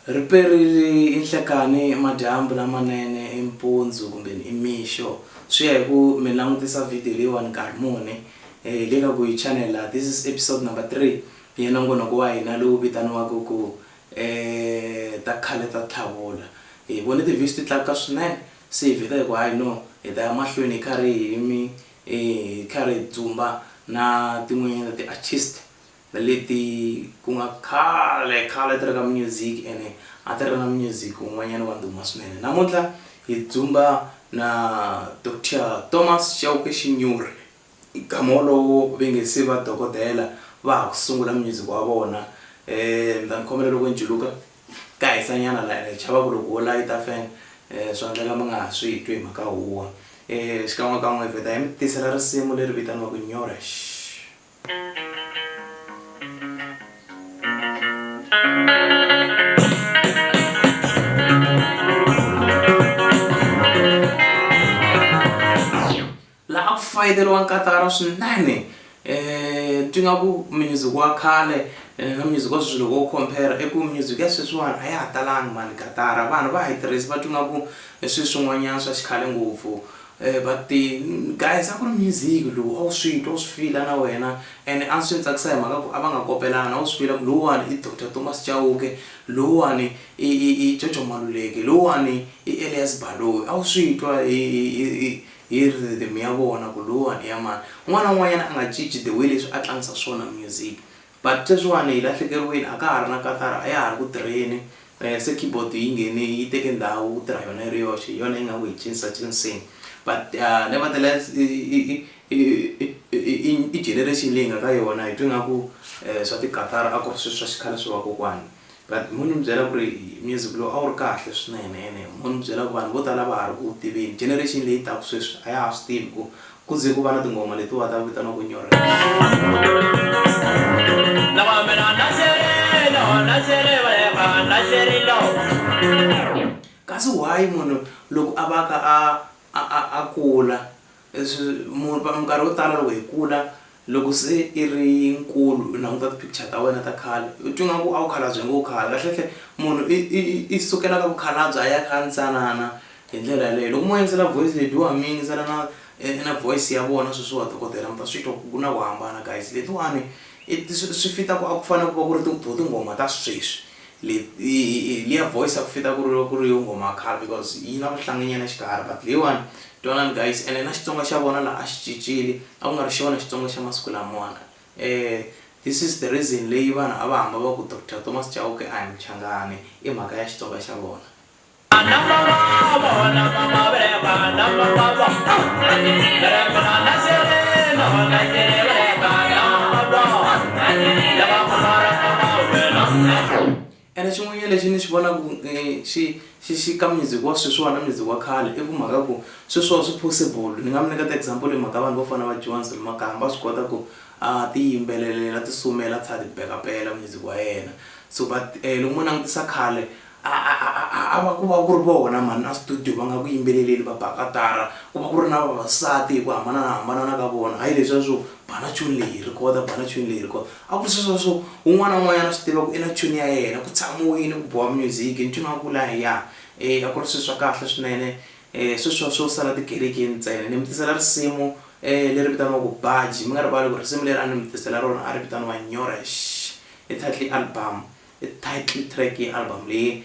riperile inhlekani madyambu lamanene impundzu kumbe imixo swi ya hi ku mi langutisa video leyiwani nkarhi muni um le ka ku yi chanela this is episode number three ya nongonoko wa hina lowu vitaniwaka ku um ta khale ta tlhavula hi vone ti-views ti tlakuka swinene Se hi vheta hi ku hayi no, hi ta ya mahlweni hi karhi hi mi hi karhi hi dzumba na tin'wanyana ta ti-artist leti ku nga khale khale ti ri ka music ene a ti ri na music wun'wanyana wa ndhuma swinene. Namuntlha hi dzumba na Doctor Thomas Chauke Xinyori. Nkama wolowo ve nge se va dokodela va ha ku sungula munyuziku wa vona. Ni ta mi khomela loko ni juluka, ka hisanyana la ene hi chava ku loko ho layita fene swa endleka mi nga ha swi twi hi mhaka huwa. Xikan'wekan'we hi vheta hi mi tisela risimu leri vitaniwaka Nyorexx. Laha ku fayeteliwa nkatara swinene ti nga ku music wa khale na music wa sweswi loko u compare i ku music ya sweswiwani a ya ha talanga mhani katara vanhu va ha yi tirhisa va twi nga ku i swi swin'wanyana swa xikhale ngopfu but ti guys a ku ri music lowu a wu swi twa u swi feel-a na wena and a swi ni tsakisa hi mhaka ku a va nga kopelani a wu swi feel-a ku lowuwani i doctor Thomas Chauke lowuwani i i i Jojo Maluleke lowuwani i Elias Baloyi a wu swi twa hi hi hi. hi rhythm ya vona ku lowuwani i ya mani. Un'wana na un'wanyana a nga cinci the way leswi a tlangisa swona music. But sweswiwani hi lahlekeriwini a ka ha ri na katara a ya ha ri ku tirheni se keyboard yi nghene yi teke ndhawu ku tirha yona yi ri yoxe hi yona yi nga ku hi cincacinceni. But nevertheless i generation leyi hi nga ka yona hi twe nga ku swa tikatara a ku ri swilo swa xikhale swa vakokwana. But mo ni byela ku ri music lowu a wu ri kahle swinene ene mo ni byela ku vanhu vo tala a va ha ri ku wu tiveni. Generation leyi taka sweswi a ya ha swi tivi ku ku ze ku va na tinghoma letiwa ta vitaniwaka nyorrela. Kasi why munhu loko a va ka a a a a kula Leswi mu va minkarhi yo tala loko hi kula loko se i ri nkulu u languta ti picture ta wena ta khale u twi nga ku a wu khalabye ngopfu khale kahle kahle munhu i i i i sukela ka mukhalabye a ya ka ntsanana hi ndlela yaleyo loko mo yingisela voice lebyiwa mi yingisela na na voice ya vona sweswiwa dokodela mi ta swi twa ku ku na ku hambana guys letiwani i swi swi fit-a ku a ku fanele ku va ku ri to tinghoma ta sweswi Le, i, i, liya voice aku fita kuri, kuri yo nghoma khale because yi na vuhlangi nyana xikarhi but leyiwani twanani guys ene na Xitsonga xa vona la a xi cincile a ku nga ri xona Xitsonga xa masiku lamawani eh this is the reason leyi vanhu a va hamba va ku Doctor Thomas Chauke I am Mchangani i mhaka ya Xitsonga xa vona. ene xin'wanyana lexi ni xi vonaka um xi xi xi ka music wa sweswiwani na music wa khale i ku mhaka ku sweswiwa swi possible ni nga mi nyiketa example hi mhaka vanhu vo fana va johnson makaya va swi kota ku a ti yimbelelela ti sumela a tlhela a ti bekapela music wa yena so but loko mo langutisa khale A, a, a, a, a, a va ku va ku ri vona mhani a studio va nga ku yimbeleleni va ba katara, ku va ku ri na vavasati hi ku hambananahambanana ka vona, hayi leswiya swo ba na chuni leyi hi rhikhoda, ba na chuni leyi hi rhikhoda, a ku ri sweswiya swo un'wana na un'wanyana a swi tiva ku i na chuni ya yena, ku tshamiwile ku biwa music, ncino a wu kula hi ya, e, a ku ri swilo swa kahle swinene, e, sweswiya swo sala tikerekeni ntsena. Ni mi tisela risimu e leri vitaniwaka Baji, mi nga rivali ku risimu leri a ni mi tisela rona a ri vitaniwa Nyorexx, i title ya album. I title track ya album leyi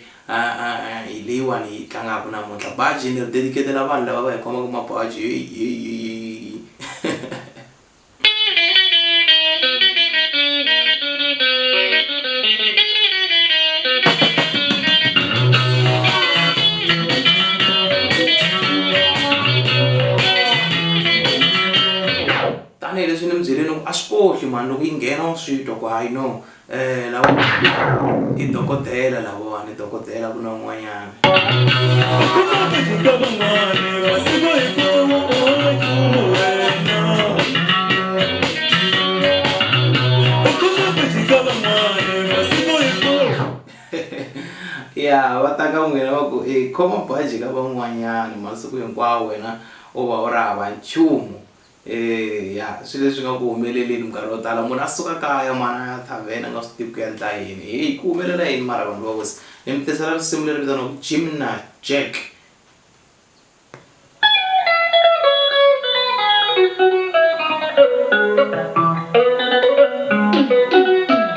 hi leyiwani yi tlangaka namuntlha baji ni ri dedicatela vanhu lava va hi khomaka mabaji tanihileswi ni mi byeleni ku a swi kohli mhani loko yi nghena wa swi twa ku hayi no i dokodela lawani dokodela ku na un'wanyana ya va ta ka n'wina va ku i khoma baji ka van'wanyana masiku hinkwawo wena u va u ri hava nchumu Eya swi leswi nga ku humeleleni minkarhi yo tala munhu a suka kaya mara a ya thavene a nga swi tivi ku ya endla yini heyi ku humelela yini mara vanhu va wisa ni mi tisela risimu leri vitaniwaku jimna jack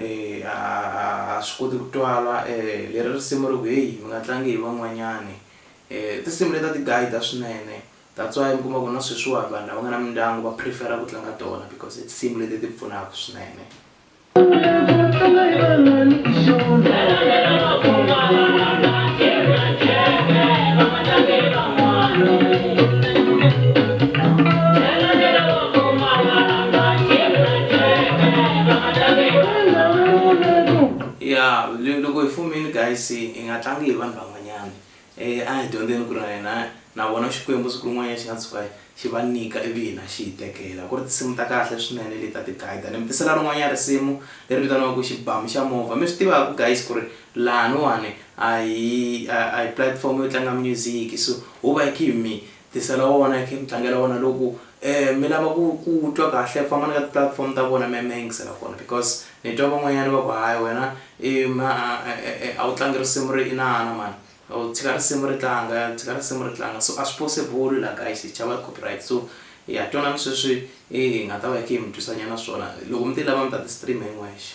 Eh, a a a swi koti ku twala eh, leri risimu ri ku heyi mi nga tlangi hi van'wanyani eh, i tinsimu leti a ti guide swinene that's why mi kuma ku na sweswiwani vanhu lava nga na mindyangu va prefer-a ku tlanga tona because i tinsimu leti ti pfunaka swinene. ya le- loko hi fumile guys hi nga tlangi hi vanhu van'wanyana um a hi dyondzeni ku ri na hina na vona xikwembu siku rin'wanyana xi nga tshuka xi va nyika ivi hina xi hi tekela ku ri tinsimu ta kahle swinene leti ta ti-guide ni mi tisela rin'wanyana risimu leri vitaniwaka xibamu xa movha mi swi tivaka guys ku ri lahaniwani a hi a a hi platform yo tlanga music so ho va hi khe hi mi Tisela wona hi khe mi tlangela wona loku mi lava ku ku twa kahle fambani ka ti platform ta vona mi ya mi ya yingisela kona because ni twa van'wanyana va ku hayi wena i a wu tlangi risimu ri inana mhani u tshika risimu ri tlanga u tshika risimu ri tlanga so a swi possible la guys hi chava copyright so ha twanani sweswi hi nga ta va hi khe hi mi twisa nyana swona loko mi ti lava mi ta ti stream hi n'wexe.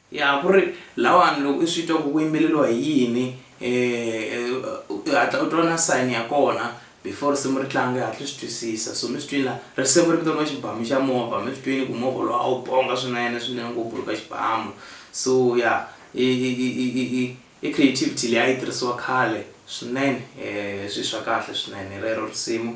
Ya, ku ri lawani loko i swi twa ku ku yimbeleriwa hi yini u hatla u twa na sign ya kona before risimu ri tlanga i hatla u swi twisisa so mi swi twini laha risimu ri vitaniwa xibamu xa movha mi swi twini ku movha lowu a wu ponga swinene swinene ngopfu ri ka xibamu so ya i creativity leyi a yi tirhisiwa khale swinene swi swa kahle swinene rero risimu.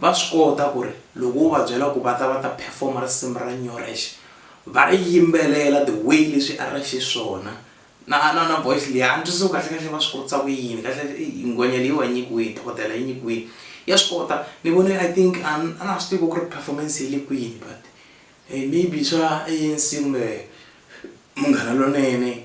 Va swi kota ku ri loko wo va byela ku va ta va ta perform risimu ra Nyorex va ri yimbelela the way leswi a ri xiswona na na na voice leyi a ni twisisi ku kahle kahle va swi kotisa ku yini kahle kahle i nghwenya leyi wa nyikiwini dokodela yi nyikiwini ya swi kota ni vone I think a ni a na ha swi tivi ku ri performance yi le kwini but maybe swa ANC kumbe Munghana Lonene.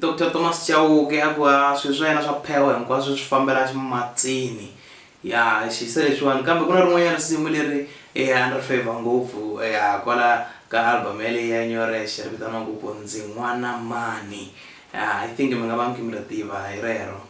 doctor thomas chauke a ku a swilo swa yena swa phewa hinkwaswo swi fambela ximatsini Ya xi hisa leswiwani kambe ku na rin'wanyana risimu leri eya a ni ri favour ngopfu eya kwala ka album yaleyi ya Nyorexe ri vitaniwaku ku ndzi n'wana mani ya I think mi nga va mi khe mi ri tiva hi rero.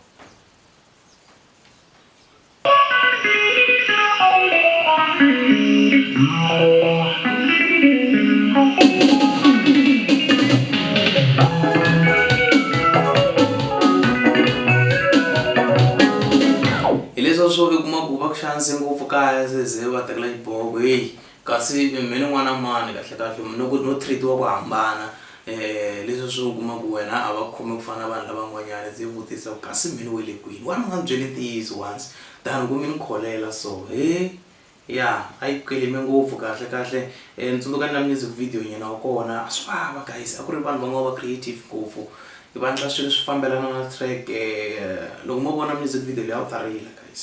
hileswa swo i kuma ku va ku xanise ngopfu kaya seze va tekela xiboho ku heyi kasi mi ni n'wana mani kahle kahle no ku no treat-iwa ku hambana um leswi swi u kuma ku wena a va khomi ku fana na vanhu lavan'wanyana se vutisa ku kasi mi ni we le kwini wani u nga ni byeli ntiyiso once than ku mi ni kholela so he Ya a yi kweleme ngopfu kahle kahle ni tsundzuka na music video nyana wa kona a swi vava guys a ku ri vanhu va nga va creative ngopfu hi va endla swilo swi fambelana na track loko mo vona music video leyi a wu ta rila guys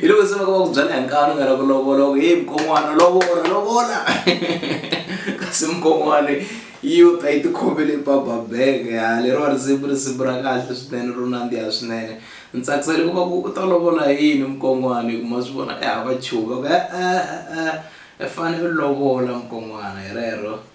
hi loko se va ka va ku byela hi nkani u nga la ku lovola ku heyi mukon'wana lovola lovola kasi mukon'wana yi u ta yi tikhomele bababeke ha lero va risimu risimu ra kahle swinene ro nandziha swinene ni tsakisele ku va ku u ta lovola yini mukon'wana hi ku ma swi vona e hava chuva ku e-e-e i fanele u lovola mukon'wana hi rero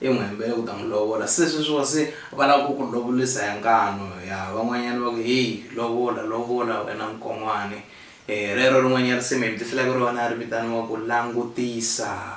I n'wi hembele ku ta n'wi lovola. Se sweswiwa se va lava ku ku lovolisa hi nkanu. Ya, van'wanyana va ku, Heyi, lovola, lovola wena nkon'wani. E, rero rin'wanyana risimu hi mi tisela ku rona ri vitaniwa ku Langutisa.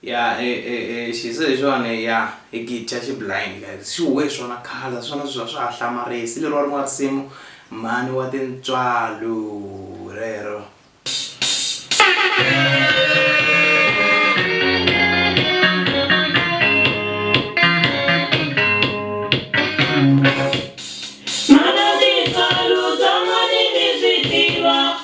Ya e e e xize lexiwani ya hi gidya xi blind guys xi huwe hi swona khale hi swona sweswi a swa ha hlamarisi leriwa rin'wana risimu mhani wa tintswalo hi rero.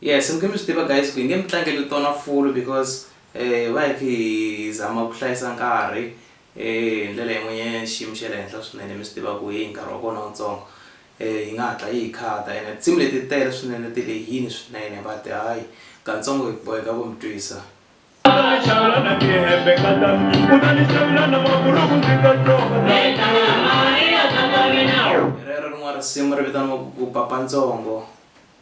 Yes mi nge mi swi tiva guys ku hi nge mi tlangeli tona fulu because va hi khi hi zama ku hlayisa nkarhi hi ndlela yin'wanyana xiyimo xa le henhla swinene mi swi tiva ku heyi nkarhi wa kona wutsongo yi nga hatla yi hi khata ene tinsimu leti ti tele swinene ti lehini swinene but hayi katsongo hi boheka ku mi twisa Xalana ti hembe ka ta u ta ni xavula na maburuku ndzi ta tsonga. rero rin'wana risimu ri vitaniwa ku ku papa ntsongo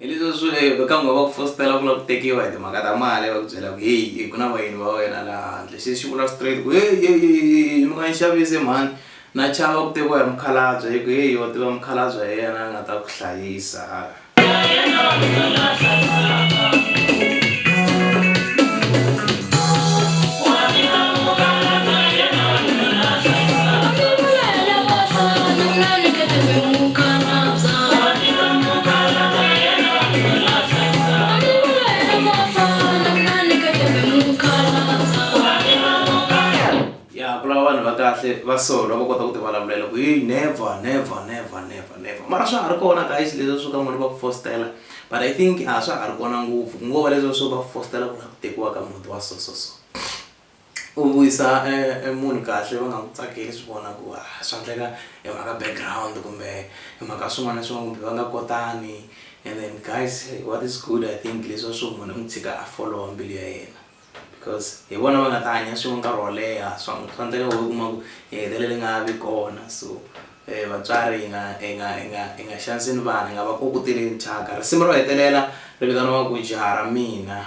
Hi leswi swi vule eka n'wina va ku fositela ku lava ku tekiwa hi timhaka ta mali va ku byela ku heyi ku na vayeni va wena laha handle se xi vula straight ku heyi mi nga ni xavisi mhani na chava ku tekiwa hi mukhalabye hi ku heyi wa tiva mukhalabye hi yena a nga ta ku hlayisa ya ku lava vanhu va kahle va so lava kota ku ti vulavulela ku yi never never never never never mara swa ha ri kona guys leswi swo ka n'wini va ku fostela but i think a swa ha ri kona ngopfu ku ngo va leswi swo va fostela ku lava ku tekiwa ka muti wa so so so u vuyisa e e munhu kahle va nga n'wi tsakeli swi vona ku a swa endleka i mhaka background kumbe i mhaka swin'wana na swin'wana kumbe va nga kotani and then guys what is good I think leswa swo munhu u n'wi tshika a follow-a mbilu ya yena because hi vona va nga ta hanya swin'we nkarhi wo leha swa swa endleka wena u kuma ku i hetelele i nga ha vi kona so vatswari hi nga hi nga hi nga hi nga xaniseni vana hi nga va koketeleni thyaka risimu ro hetelela ri vitaniwa ku jaha ra mina.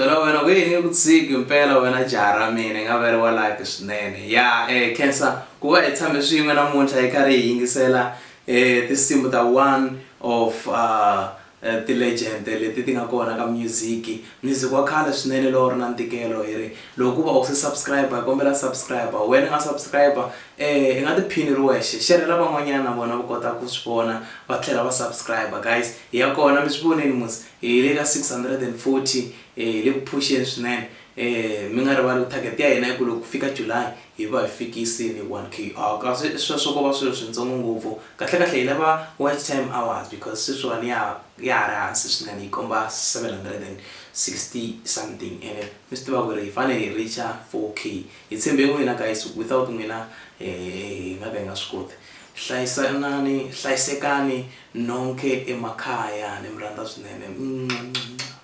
byela wena ku yini ku tshiki mpela wena jaha ra mina nga va ri wa life swinene ya um cancer ku va hi tshame swin'we namuntlha hi karhi hi yingisela um tinsimu ta one of uh, uh, ti-legend leti ti nga kona ka music Music wa khale swinene lowu ri na ntikelo hi ri loko ku va u se subscriber hi kombela subscriber wena nga subscriber i nga tiphini u ri wexe xerhela van'wanyana na vona va kota ku swi vona va tlhela va subscriber guys hi ya kona mi swi vonile mos hi le ka six hundred and forty hi le ku phuxeni swinene mi nga rivali ku target ya hina i ku loko ku fika July hi va hi fikise ni 1 kr kasi sweswo ko va swilo swintsongo ngopfu kahlekahle hi lava watch time hours because sweswiwani ya ya ha ri hansi swinene yi komba 760 something ene mi swi tiva ku ri hi fane hi reacher 4k hi tshembe n'wina guys without n'wina hi nga ka hi nga swi koti hlayisanani hlayisekani nonke emakaya ni mi rhandza swinene